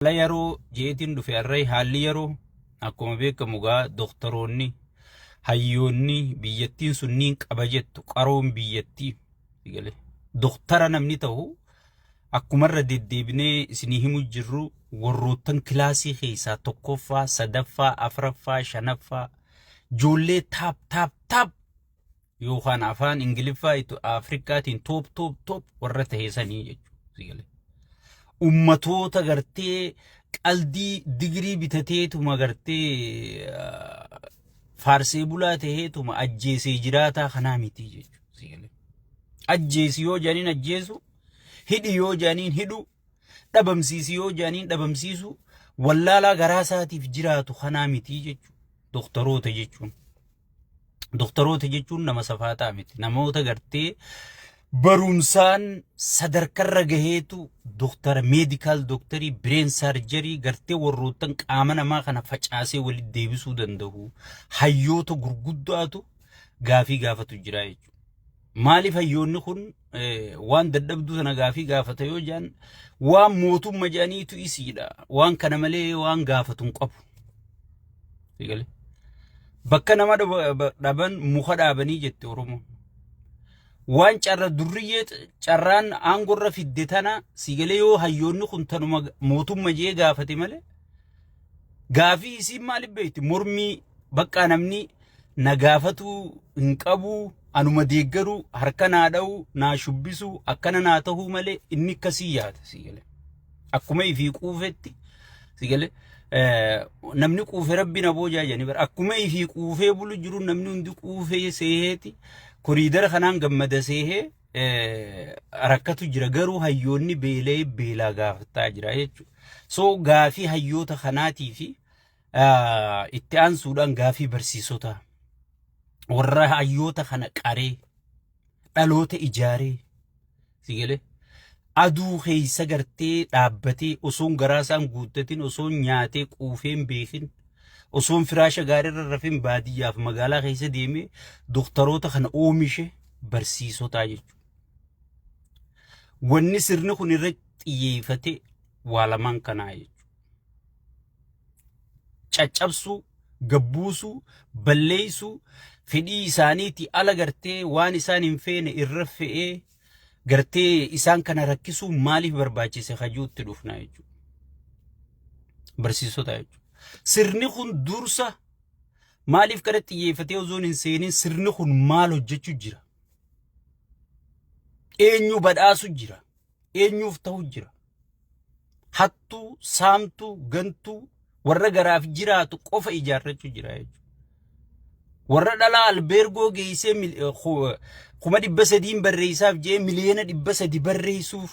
Haala yeroo jeetiin dhufe array haalli yeroo akkuma beekamu gaa doktoroonni hayyoonni biyyattiin sun niin qaba jettu qaroon biyyattii galee doktara namni ta'u akkumarra deddeebinee isinii himu jirru warroottan kilaasii keessaa tokkoffaa sadaffaa afraffaa shanaffaa ijoollee taap taap taap yookaan afaan Ingiliffaa itti Afrikaatiin toop toop toop warra taheesanii jechuudha. Ummatoota gartee qaldii digirii bitateetuma gartee faarsee bulaa taheetuma ajjeesee jiraataa kanaa miti jechuudha. Ajjeesi yoo jaaniin ajjeesu, hidhi yoo jaaniin hidhu, dhabamsiisi yoo jaaniin dhabamsiisu, wallaalaa garaa isaatiif jiraatu kanaa miti jechuudha. Dooktaroota jechuun. Doktaroota jechuun nama safaataa miti. Namoota gartee barumsaan sadarkarra gaheetu doktara meedikaal doktarii bireen saarjarii gartee warroottan qaama namaa kana facaasee walitti deebisuu danda'u hayyoota gurguddaatu gaafii gaafatu jira jechuudha. Maaliif hayyoonni kun waan dadhabduu sana gaafii gaafata yoo jedhan waan mootumma jedhaniitu isiidha. Waan kana malee waan gaafatu hin qabu. Bakka nama dhaban muka dhaabanii jette Oromoon. Waan carra durriyyee carraan aangorra fidde tana siigalee yoo hayyoonni kun tanuma mootumma jee gaafate malee Gaafii isiin maali beekti mormii baqqaa namni na gaafatuu hin qabu anuma deeggaru harka naa dha'u naa shubbisu akkana naa ta'uu malee inni akkasii yaada si gale akkuma ifii quufetti si gale namni quufe rabbi na boojaa jedhani bara akkuma ifii quufee bulu jiru namni hundi quufee seeheeti koriidara kanaan gammada seehee rakkatu jira garuu hayyoonni beela'ee beelaa gaafataa jira jechuudha. So gaafii hayyoota kanaatii fi itti aansuudhaan gaafii barsiisota warra hayyoota kana qaree dhaloota ijaaree si galee Aduu keessa gartee dhaabbatee osoon garaa isaan guuttatin osoon nyaatee quufee hin beekin osoon firaasha gaariirra rafin baadiyyaaf magaalaa keessa deemee doktaroota kana oomishe barsiisotaa jechuudha. Wanni sirni kun irra xiyyeeffate waa lamaan kanaa jechuudha. Caccabsuu, gabbuusuu, balleessuu, fedhii isaaniitii ala gartee waan isaan hin feene irra fe'ee gartee isaan kana rakkisuu maaliif barbaachise kajuutti dhufna jechuudha. Barsiisota jechuudha. Sirni kun dursa maaliif kana xiyyeeffatee osoo hin seenin sirni kun maal hojjechuu jira? Eenyu badhaasu jira? Eenyuuf ta'u jira? hattuu, saamtuu, gantuu warra garaaf jiraatu qofa ijaarrachuu jira jechuudha. Warra dhalaa albeergoo geessee mil- eh, ku- eh, kuma dhibba sadiin barreessaaf jee miliyoona dhibba sadi barreessuuf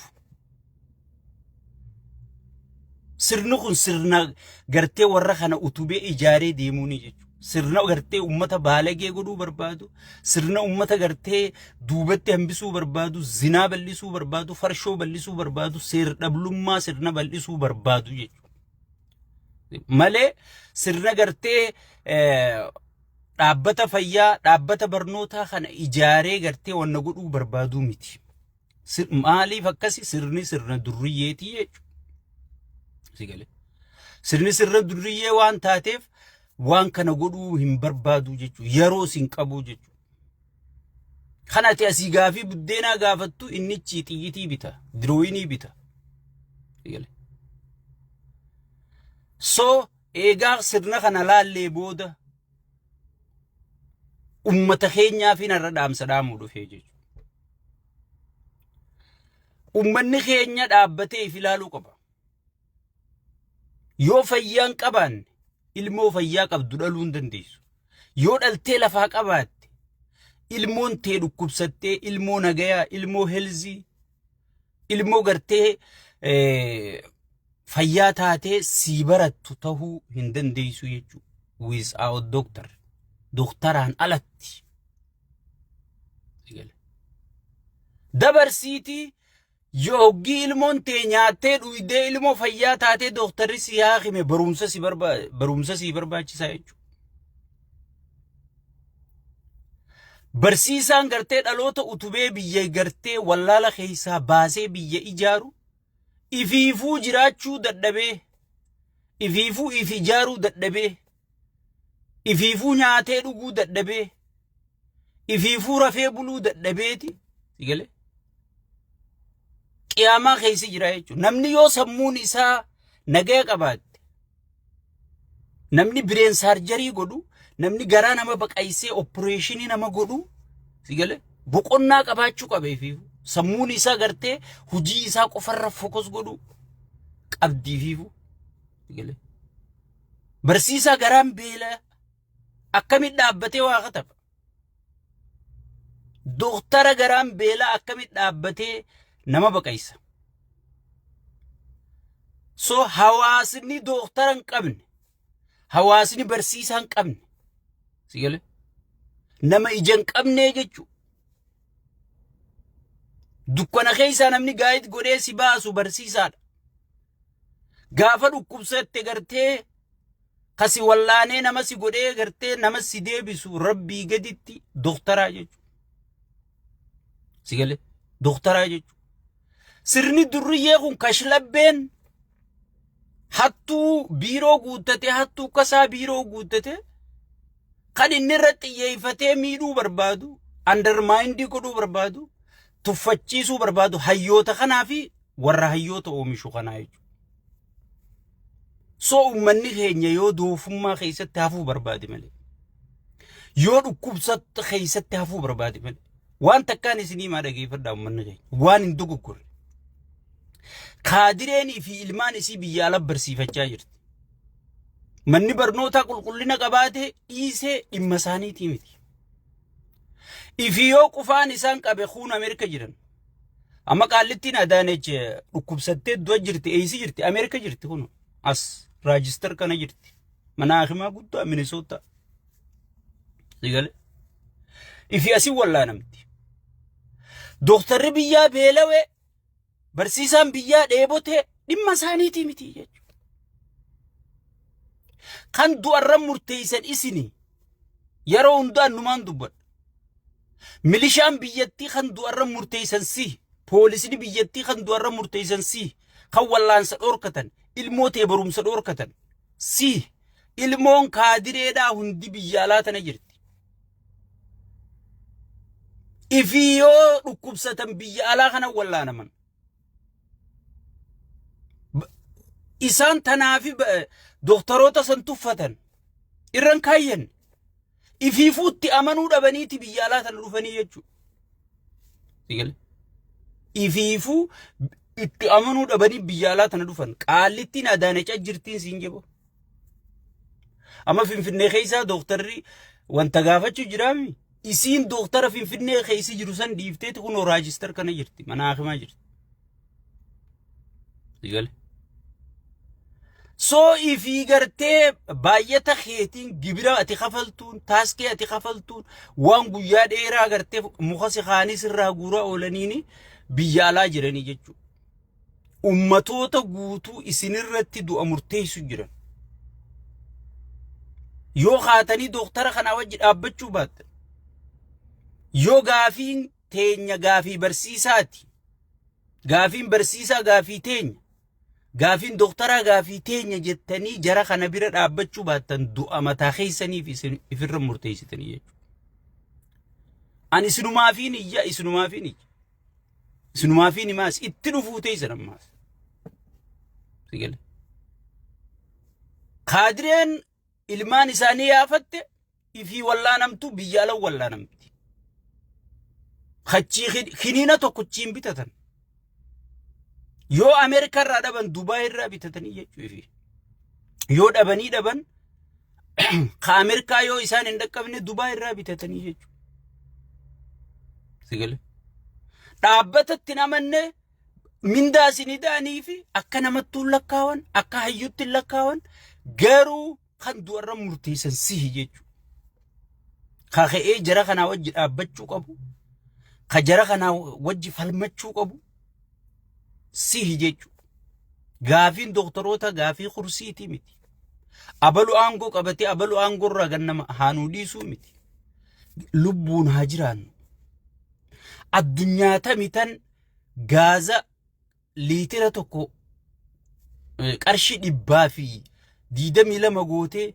sirni kun sirna gartee warra kana utubee ijaaree deemuuni jechuudha. Sirna gartee ummata baalagee godhuu barbaadu, sirna ummata gartee duubatti hambisuu barbaadu, zinaa bal'isuu barbaadu, farshoo bal'isuu barbaadu, seer dhablummaa sirna bal'isuu barbaadu jechuudha. Malee sirna gartee dhaabbata fayyaa, dhaabbata barnootaa kana ijaaree gartee wanna godhuu barbaaduu miti. Sir- Maaliif akkasi sirni sirna durriyyeetii jechuudha. Si galee. Sirni sirna durriyyee waan taateef waan kana godhuu hin barbaadu jechuudha. Yeroo sin qabu jechuudha. Kan ati asii gaafii buddeenaa gaafattu innichi xiyyitii bita, dirooyinii bita. Si galee. So eegaa sirna kana laallee booda Ummata keenyaa fi narra dhaamsa dhaamuu dhufee jechuudha. Ummanni keenya dhaabbatee if ilaaluu qaba. Yoo fayyaan qabaanne ilmoo fayyaa qabdu dhaluu hin dandeessu. Yoo dhaltee lafaa qabaatte ilmoon tee dhukkubsattee ilmoo nagayaa ilmoo helzii ilmoo gartee fayyaa taatee sii barattu tahuu hin dandeessu jechuudha. Without doctor. Doktaraan alatti. Dabarsiitii yoggii ilmoon tee nyaattee dhuydee ilmoo fayyaa taatee doktarri si haakime barumsa si barbaachisaa jechuudha. Barsiisaan gartee dhaloota utubee biyya gartee wallaala keessaa baasee biyya ijaaru ifiifuu jiraachuu dadhabee ifiifuu if ijaaruu dadhabee ifiifuu nyaatee dhuguu dadhabee ifiifuu rafee buluu dadhabeeti sigalee qiyaamaa keessa jira jechuudha. Namni yoo sammuun isaa nagaya qabaatte Namni bireen saarjarii godhu, namni garaa nama baqaysee oppireeshinii nama godhu, si galee boqonnaa qabaachuu qabeefi sammuun isaa gartee hojii isaa qofarra fokus godhu qabdiifiifu. Si galee barsiisaa garaan beela akkamit dhaabbatee waa katafa. Dooktara garaan beelaa akkamitti dhaabbatee nama baqaysa? So hawaasni dooktara hin qabne, hawaasni barsiisaa hin qabne, si gale? Nama ija hin qabne jechuudha. Dukkana keessaa namni gaa'id godhee si baasu barsiisaadha. Gaafa dhukkubsatte gartee ka si wallaanee nama si godhee gartee nama si deebisu rabbii gaditti doktaraa jechuudha. Si galee doktaraa jechuudha. Sirni durriyyee kun kashlabbeen hattuu biiroo guuttatee hattuu kasaa biiroo guuttatee kan inni irratti xiyyeeffatee miidhuu barbaadu andarmaayindii godhuu barbaadu tuffachiisuu barbaadu hayyoota kanaa fi warra hayyoota oomishu kanaa jechuudha. So uummanni keenya yoo doofummaa keessatti hafuu barbaade malee yoo dhukkubsatti keessatti hafuu barbaade malee waan takkaan isinii maa dhageeffadhaa uummanni keenya waan hin dogoggorre. Kaadireenii fi ilmaan isii biyya ala barsiifachaa jirti. Manni barnootaa qulqullina qabaatee dhiisee dhimma isaaniitii miti. Ifi yoo qufaan isaan qabe kuun Ameerika jiran. Amma qaallittiin Adaanech dhukkubsattee du'a jirti, eeysi jirti, Ameerika jirti kun as raajistar kana jirti. Mana hakimaa guddaa Minisoota. Sigale. Ifi asii wallaanamti. Dooktarri biyyaa beelawee barsiisaan biyyaa dheebotee dhimma isaaniitii miti jechuudha. Kan du'arra murteessan isinii. Yeroo hundaa numaan dubbadha. Milishaan biyyattii kan du'arra murteessan si. Poolisni biyyattii kan du'arra murteessan si. Kan wallaansa dhoorkatan, ilmoo tee barumsa dhoorkatan si. Ilmoon kaadireedhaa hundi biyya alaa tana jirti. Ifii yoo dhukkubsatan biyya alaa kana wallaanaman. isaan tanaafi doktaroota san tuffatan irran kaayyan ifiifuutti amanuu dhabaniiti biyya alaa tana dhufanii jechuudha. Ifiifuu itti amanuu dhabanii biyya alaa tana dhufan qaallittiin adaanachaa jirtiin siin jeboo. Amma Finfinnee keessaa dooktarri wanta gaafachuu jiraami. Isiin dooktara Finfinnee keessa jiru san dhiifteeti kunoo raajistar kana jirti. Mana hakimaa jirti. Sigale. Soo ifii gartee baay'ata keetiin gibira ati kafaltuun taaskee ati kafaltuun waan guyyaa dheeraa gartee muka si kaanis irraa guuraa oolaniini biyya alaa jiranii jechuudha. ummatoota guutuu isinirratti du'a murteessu jiran. Yoo kaatanii dooktara kanaa wajji dhaabbachuu baattan, yoo gaafiin teenya gaafii barsiisaati, gaafiin barsiisaa gaafii teenya, gaafiin dooktaraa gaafii teenya jettanii jara kana bira dhaabbachuu baattan du'a mataa keessaniif isin ifirra murteessitanii jechuudha. Ani isinumaafiin iyya, isinumaafiin iyya. Isinumaafiin himaas itti dhufuu teessan ammaaf. Sigale. Kaadireen ilmaan isaanii yaafatte ifii wallaanamtu biyya ala wallaanamti. Kachii kiniina tokkochiin bitatan. Yoo Ameerikaa irraa dhaban Dubaay irraa bitatanii jechuufi. Yoo dhabanii dhaban ka Ameerikaa yoo isaan hin dhaqqabne Dubaay irraa bitatanii jechuudha. Sigale. Dhaabbatatti namanne mindaa isin hidhaanii fi akka namattuu hin lakkaawan akka hayyuutti hin lakkaawan garuu kan du'arra murteessan sihi jechuudha. Ka ka'ee jara kanaa wajji dhaabbachuu qabu. Ka jara kanaa wajji falmachuu qabu. sihi jechu gaafiin doktoroota gaafii kursiitii miti abalu aangoo qabatee abalu aangoo irraa gannama haanuu dhiisuu miti lubbuun haa jiraannu addunyaa tamitan gaaza liitira tokko qarshii dhibbaa fi diidamii lama gootee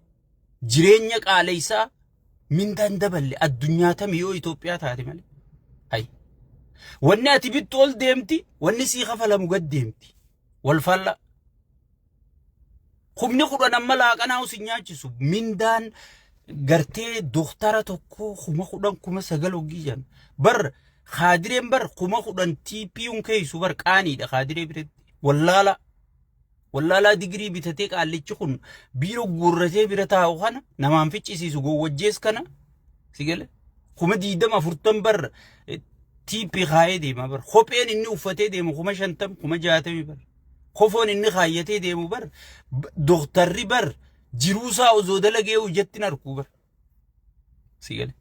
jireenya qaaleysaa mindaan daballe addunyaa tami yoo Itoophiyaa taate malee. Hay. Wanni ati bittu ol deemti, wanni sii kafalamu gad deemti. Wal faalla. Humni kudhan amma laaqanaa usin nyaachisu mindaan gartee doktara tokko kuma kudhan kuma sagal hoggii jan. Bar kaadireen bar kuma kudhan TPUn keeysu bar qaaniidha kaadiree biratti. Wallaala. Wallaalaa digirii bitatee qaallichi kun biiroo guurratee bira taa'u kana namaan ficcisiisu gowwajjees kana si gale kuma diidama afurtan bar tiippii kaayee deema bar kopheen inni uffatee deemu kuma shantam kuma jaatami bar kofoon inni kaayyatee deemu bar doktarri bar jiruusaa osoo dalagee hojjatti narkuu bar Si gale.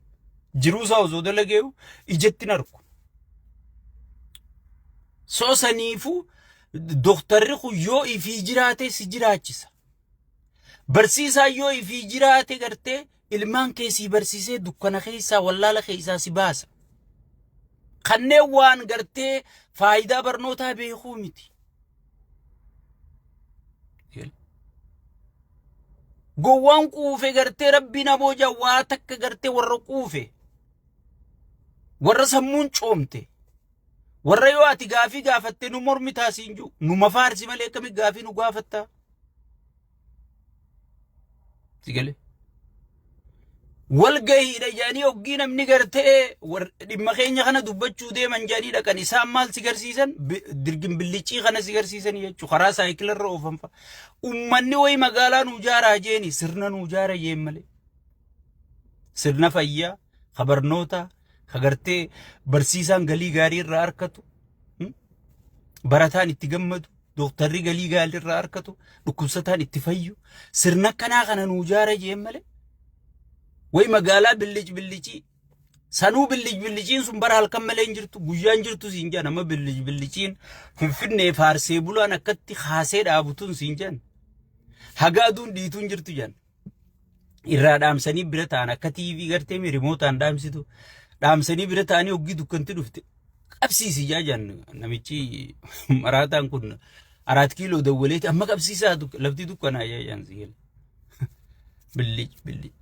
Jiruu isaa osoo dalageeyu ijatti hin argu. So saniifuu doktarri kun yoo ifii jiraate si jiraachisa. Barsiisaan yoo ifii jiraate gartee ilmaan kee si barsiisee dukkana keessaa wallaala keessaa si baasa. Kanneen waan gartee faayidaa barnootaa beekuu miti. Gowwaan quufe gartee rabbiin aboo jawwaa takka gartee warra quufe warra sammuun coomte warra yoo ati gaafii gaafatte nu mormitaa siin jiru nu mafaarsi malee akkami gaafii nu gaafatta Sigale. Walgahiidha jedhanii hoggii namni gartee dhimma keenya kana dubbachuu deeman jedhanii dhaqan isaan maal si garsiisan dirgin billichii kana si garsiisan jechuudha karaa saayikilarra oofan fa'a. Uummanni wayi magaalaa nu jaaraa jeeni sirna nu jaara jeen malee. Sirna fayyaa, ka barnootaa, ka gartee barsiisaan galii gaarii irraa argatu, barataan itti gammadu. Dooktarri galii gaalli irraa harkatu, dhukkubsataan itti fayyu, sirna akkanaa kana nuu jaara jeen malee. Wayi magaalaa billic billicii. Sanuu billic billiciin sun bara halkan malee hin jirtu, guyyaan jirtu siin jedhan amma billic billiciin finfinnee faarsee bulaan akkatti kaasee dhaabutun siin jedhan. Haga aduun dhiituun jirtu jedhan. irraa dhaamsanii bira ta'an akka TV gartee mi rimootaan dhaamsitu dhaamsanii bira ta'anii hoggii dukkanti dhufte qabsiisi ijaa jaan namichi maraataan kun araat kiiloo dawwaleeti amma qabsiisaa duk- lafti dukkanaa ijaa jaan siyyel billic billic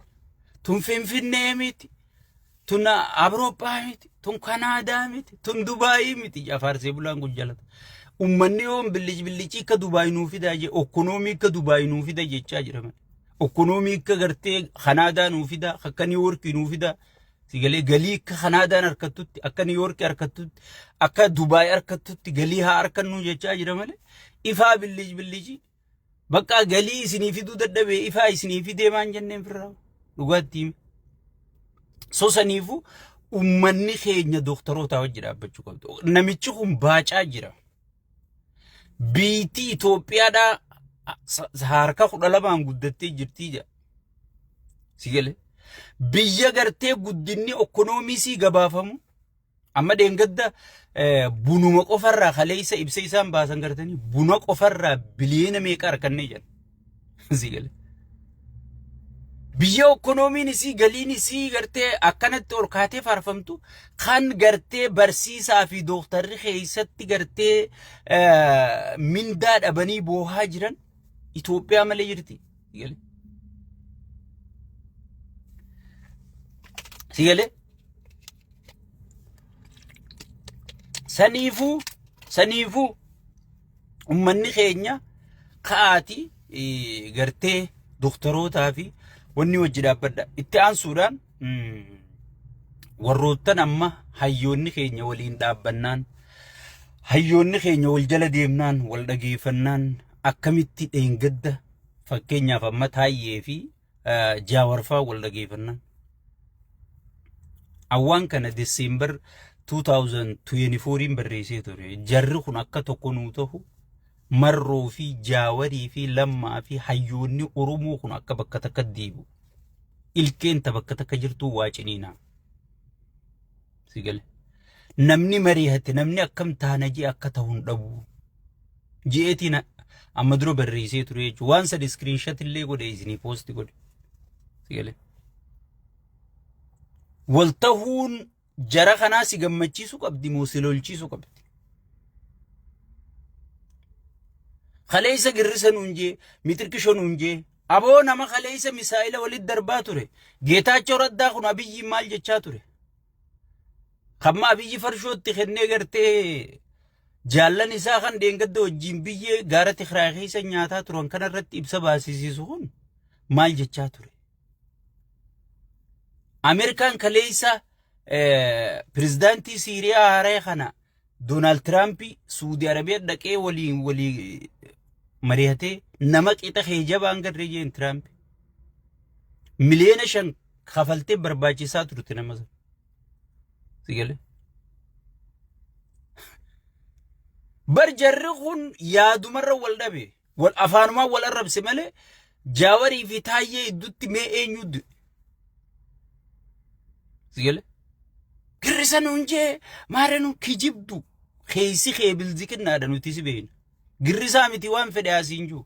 tun finfinnee miti Tun Awurooppaa miti, tun Kanaadaa miti, tun Dubaayii miti jaa faarsee bulaan kun jalata. Ummanni yoon billic billicii akka Dubaay nuu fidaa jee, okkonoomii akka Dubaay nuu fida jechaa jira malee. Okkonoomii akka gartee Kanaadaa nuu fidaa, akka Niiwoorkii nuu fidaa. Sigalee galii akka Kanaadaan harkattutti, akka Niiwoorkii harkattutti, akka Dubaay harkattutti galii haa harkannuu jechaa jira malee. Ifaa billic billicii. Baqqaa galii isinii fiduu dadhabee ifaa isinii fidee maan jenneen firraa dhugaatti hime. So saniifu ummanni keenya dooktarootaa wajji dhaabbachuu qabdu. Namichi kun baacaa jira. Biitii Itoophiyaadhaa harka kudha lamaan guddattee jirtii jedha. Si galee? Biyya gartee guddinni okkonoomiisii gabaafamu Amma deengadda bunuma qofarraa kaleessa ibsa isaan baasan gartanii buna qofarraa biliyeena meeqa harkannee jedhan. Sii galee. Biyya ekonomiin isii galiin isii gartee akkanatti ol kaatee faarfamtu kan gartee barsiisaa fi dooktarri keessatti gartee mindaa dhabanii boohaa jiran Itoophiyaa malee jirti. Si galee? Si galee? Saniifuu saniifuu ummanni keenya ka'aati eh, gartee doktorootaa fi wanni wajji dhaabbadha. Itti aansuudhaan mm, warroottan amma hayyoonni keenya waliin dhaabbannaan hayyoonni keenya wal jala deemnaan wal dhageeffannaan akkamitti dheengadda Fakkeenyaaf amma Taayyee fi Jaawarfaa wal dhageeffannaan. Awwaan kana Diseembar 2024 barreessee ture. Jarri kun akka tokko nuu ta'u marroo fi jaawarii fi lammaa fi hayyoonni Oromoo kun akka bakka takka deebi'u. Ilkeen ta bakka takka jirtuu waa ciniinaa. Si gale. Namni mari'ate namni akkam taana jee akka ta'u hin dhabu. Ji'eetiin amma dura barreessee ture jechuudha. Waan sadi iskiriinshat illee godhe isinii poosti godhe. Si gale. Wal tahuun jara kanaa si gammachiisu qabdi moo si lolchiisu qabdi? Kaleessa girrisa nuun jee, mitirkisho nuun jee, Aboo nama kaleessa misaa'ila walitti darbaa ture. Geetaachoo Raddaa kun Abiyyiin maal jechaa ture? Kamma Abiyyi farshootti kennee gartee jaallan isaa kan deengadda wajjin biyyee gaara Tigraay keessa nyaataa turan kanarratti ibsa baasisiisu kun maal jechaa ture? Ameerikaan kaleessa pirezidaantii Siiriyaa haaree kana Doonaald Tiraamp Suudi Arabiyaa dhaqee waliin walii mari'atee nama qixa kee jabaan garree jeen Tiraamp. Miliyoona shan kafaltee barbaachisaa turte nama sana. Si galee? Bar jarri kun yaadumarra wal dhabe. Wal afaanumaan wal arrabse malee Jaawarii fi Taayyee gidduutti mee eenyu du'e? Si gale? Girrisa nuun jee maara nu kijibdu keessi kee bilziqinnaadha nuti si beekna. Girrisaa miti waan fedhe asiin jiru.